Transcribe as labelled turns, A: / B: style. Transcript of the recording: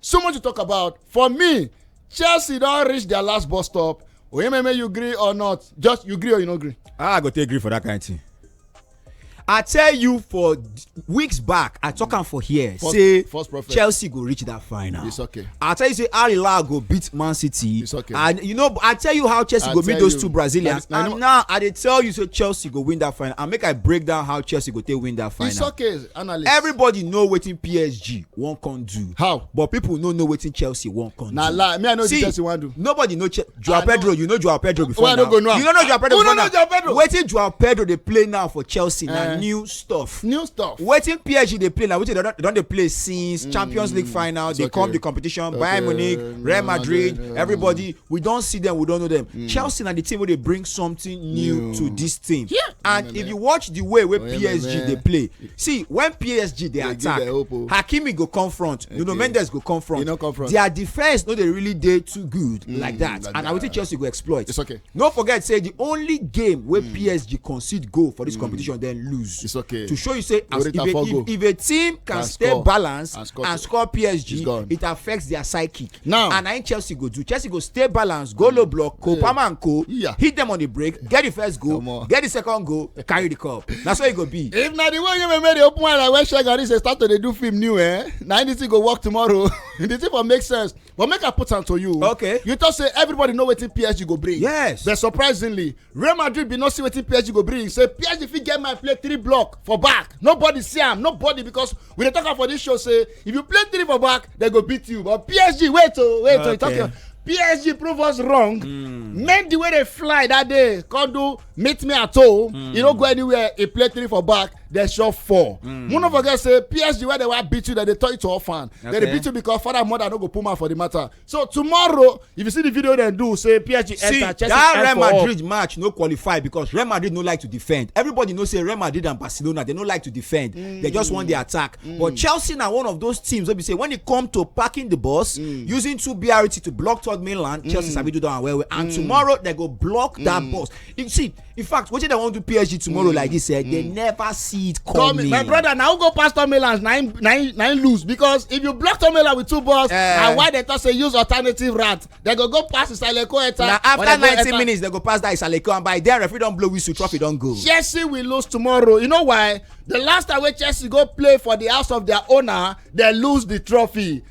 A: So much to talk about. For me, Chelsea don reach their last bus stop. Oyememe, you agree or not? Just you agree or you no agree? Ah, I go take agree for that kind of thing. I tell you for weeks back, I talk am for here. First, say first Chelsea go reach that final. It's okay. I tell you say Al Hilal go beat Man City. It's okay. And you know, I tell you how Chelsea I go beat those you, two Brazilians. And, and now I dey tell you say Chelsea go win that final. And make I break down how Chelsea go take win that final. It's okay. analyst everybody know wetin psg wan come do how but people no know wetin chelsea wan come do na lie me i know wetin chelsea wan do nobody know che joao pedro you know joao pedro before now you no know joao pedro before now wetin joao pedro dey play now for chelsea na eh. new stuff new stuff wetin psg dey play na wetin dem don dey play since mm. champions league final dey come the competition bayern munich real madrid everybody we don see them we don know them mm. chelsea na the team wey dey bring something new mm. to this team yeah. and mm. if you watch the way wey oh, psg dey play see when psg dey attack oh. hakimi go come front okay. nuno mendes go come front no come front their defence no dey really dey too good mm, like that like and na wetin chelsea go exploit it's okay no forget say the only game wey mm. psg concede goal for this mm. competition then lose it's okay to show you say as if a, if, if a team can, can stay score. balanced and score, and score psg it affects their psyche Now. And I Chelsea go do. Chelsea go stay balanced, go low mm. block, go yeah. and go. Yeah. Hit them on the break, get the first goal, get the second goal, carry the cup. That's how it go be. If not the way you made the open one, I wish I got this start to do film new, eh? Now this thing go work tomorrow. this thing will make sense. But make a put on to you. Okay. You just say everybody know what PSG go bring. Yes. But surprisingly, Real Madrid be not see what PSG go bring. Say PSG fit get my play three block for back. Nobody see him. Nobody because we dey talk am for this show say if you play three for back they go beat you but psg wait oh, wait oh, okay. oh PSG prove us wrong. Mm. Made the way they fly that day. Come do meet me at home. Mm. You don't go anywhere. He play three for back. They shot four. Mm. One of us say PSG where they were beat you that they tell you to orphan. Okay. They beat you because father mother no go put man for the matter. so tomorrow if you see the video dem do say psg see, enter chelsea that real madrid match no qualify because real madrid no like to defend everybody know say real madrid and barcelona they no like to defend mm. they just want the attack mm. but chelsea na one of those teams wey be say when e come to parking the bus mm. using two brt to block third mainland mm. chelsea sabi do that one well well and mm. tomorrow they go block mm. that bus you see in fact wetin dem wan do psg tomorrow mm. like this eh mm. they never see it coming. my brother na who go pass tom melange na him na him na him lose because if you block tom melange with two balls eh. na why dem talk say use alternative route dem go go pass isaleko eta. na after ninety minutes dem go pass that isaleko and by then referee don blow whistle trophy don go. chelsea will lose tomorrow you know why the last time wey chelsea go play for the house of their owner dem lose the trophy